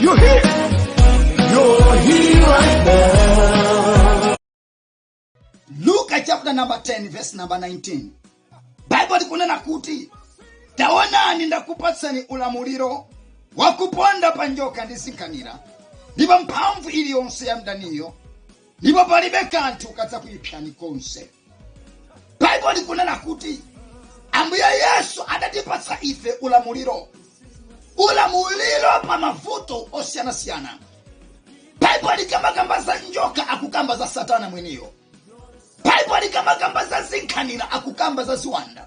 You're here. You're here right now. Luke chapter number 10 verse number 19. Bible likunena kuti taonani ndakupatsani ulamuliro wakuponda pa njoka ndi zinkhanira ndi pa mphamvu iliyonse ya mdaniyo ndipo palibe kanthu kadzakuipsani konse baibulo likunena kuti ambuye yesu adatipatsa ife ulamuliro ulamuliro pa mavuto osiyanasiyana baibulo likamakamba za njoka akukamba za satana mwiniyo baibulo likamakamba za zinkhanira akukamba za ziwanda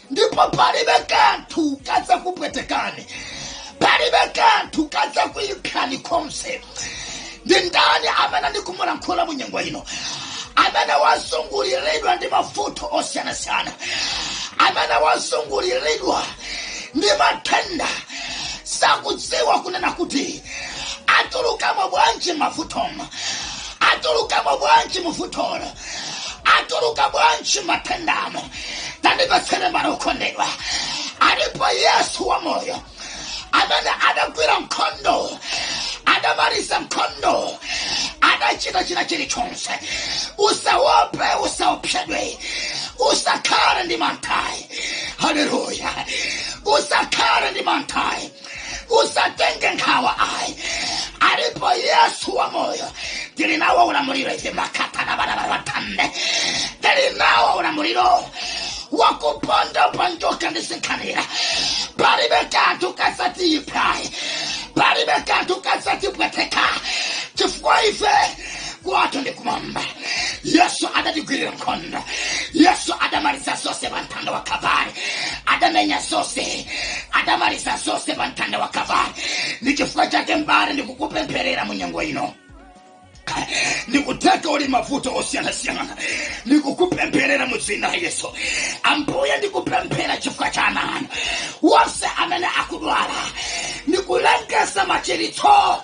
ndipo palibe kanthu kadzakupwetekani palibe kanthu kadzakuipsani konse ndi ndani amene ndikumulankhula mu nyengo ino amene wazunguliridwa ndi mavuto osiyanasiyana amene wazunguliridwa ndi matenda sakudziwa kunena kuti atulukamo bwanji m'mavutomo atulukamo bwanji muvutolo atuluka bwanji m'matendamo tandithatseni m'bale wokondedwa alipo yesu wa moyo amene adagwira nkhondo adamaliza nkhondo adachita china chilichonse usawope usaopsedwe usakhale ndi mantha ayi haleluya usakhale ndi manthayi usatenge nkhawa ayi alipo yesu wa moyo tili nawo ulamuliro ife makata na bana bawatambe tili nawo ulamuliro wakuponda pa njoka ndi zinkhanira palibe kanthu kadzatiipsa ayi palibe kanthu kadzatipweteka chifukwa ife kwathu ndi kumwamba yesu adatigwirira nkhondo yesu adamaliza zonse pa mtanda wa kalvari adamenya zonse adamaliza zonse pa mtanda wa kalvari ndi chifukwa chake m'bale ndikukupempherera mu nyengo ino ndi kutheka uli m'mavuto osiyanasiyana ndikukupempherera mu dzina la yesu ambuye ndikupemphera chifukwa cha ana anu wonse amene akudwala ndikulengeza machiritso